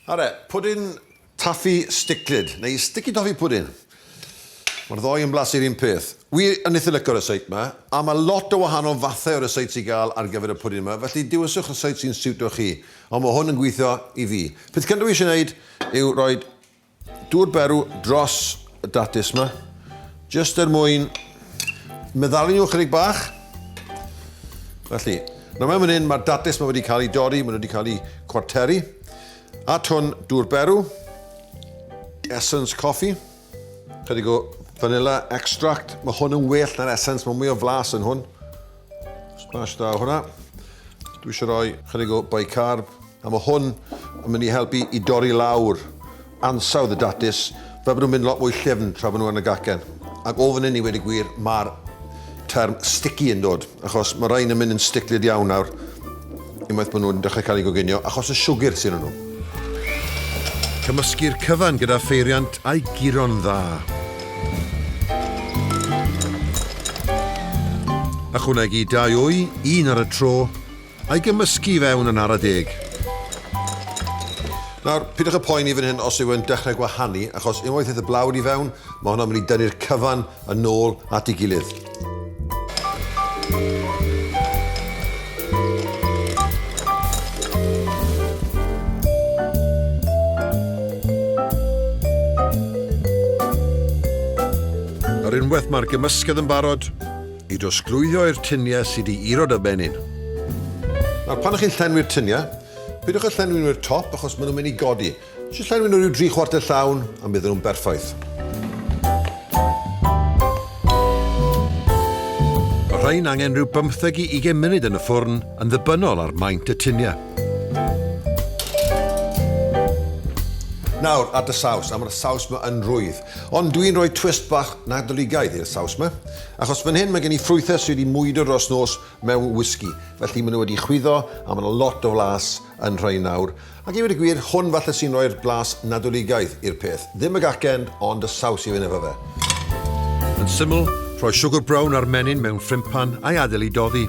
Are, pwdin taffi sticlyd, neu sticky toffee pudding. Mae'r ddoi yn blasu'r un peth. Wi yn eitha licio ryseit yma, a mae lot o wahanol fathau o ryseit i gael ar gyfer y pwdin yma, felly dewiswch ryseit sy'n siwto chi, ond mae hwn yn gweithio i fi. Peth cyntaf wi eisiau wneud yw rhoi Dŵr berw dros y datus yma, jyst er mwyn meddalu nhw chydig bach. Felly, nawr mewn fan hyn, mae'r datus yma wedi cael ei dorri, mae nhw wedi cael ei cwarteri. At hwn, dŵr berw, essence coffee, chydig o vanilla extract. Mae hwn yn well na'r essence, mae mwy o flas yn hwn. Smash da hwnna. Dwi eisiau rhoi chydig o bicarb, a mae hwn yn mynd i helpu i dorri lawr ansawdd y datus, fel bod nhw'n mynd lot mwy llyfn tra bod nhw yn y gacen. Ac o fan hyn i wedi gwir, mae'r term sticky yn dod, achos mae rhain yn mynd yn sticlyd iawn nawr. Unwaith maen nhw'n dechrau cael eu goginio, achos y siwgr sydd yn nhw. Cymysgu'r cyfan gyda pheiriant a'i guro'n dda. Ychwanegu dau wy, un ar y tro, a'i gymysgu i fewn yn ara deg. Nawr, pidwch â phoeni fan hyn os yw e'n dechrau gwahanu, achos unwaith aeth y blawd i fewn, mae hwnna'n mynd i dynnu'r cyfan yn ôl at ei gilydd. Ar unwaith mae'r gymysgedd yn barod i drosglwyddio i'r tyniau sydd i irod a benyn. Nawr pan chi'n llenwi'r tyniau, pidwch â llenwi'n wir top achos maen nhw'n mynd i godi. Jyst llenwi nhw rhyw dri chwarter llawn a mi fydden nhw'n berffaith. Mae rhain angen rhyw bymtheg i ugain munud yn y ffwrn yn ddibynnol ar maint y tuniau. Nawr at y saws, a mae'r saws ma yn rwydd. Ond dw i'n rhoi twist bach Nadoligaidd i'r saws ma. Achos fan hyn mae gen i ffrwythau sydd wedi mwydo dros nos mewn whisky, felly maen nhw wedi chwyddo a mae yna lot o flas yn rhain nawr. Ac i ddweud y gwir, hwn falle sy'n rhoi'r blas Nadoligaidd i'r peth. Ddim y gacen, ond y saws i fynd efo fe. Yn syml, rhoi siwgr brown a'r menyn mewn ffrympan a'i adael i doddi.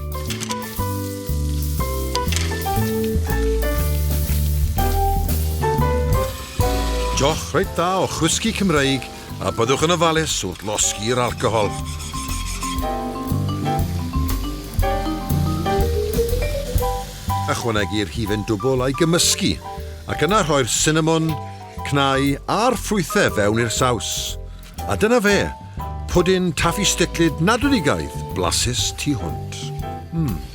Joch reit dda o chwisgi Cymreig a byddwch yn ofalus wrth losgi'r alcohol. Ychwanegu rhifen dwbl a'i gymysgu, ac yna rhoi'r sinamon, cnau a'r ffrwythau fewn i'r saws. A dyna fe, pwdin taffi sticlyd nadwedigaeth blasus tu hwnt. Mmm.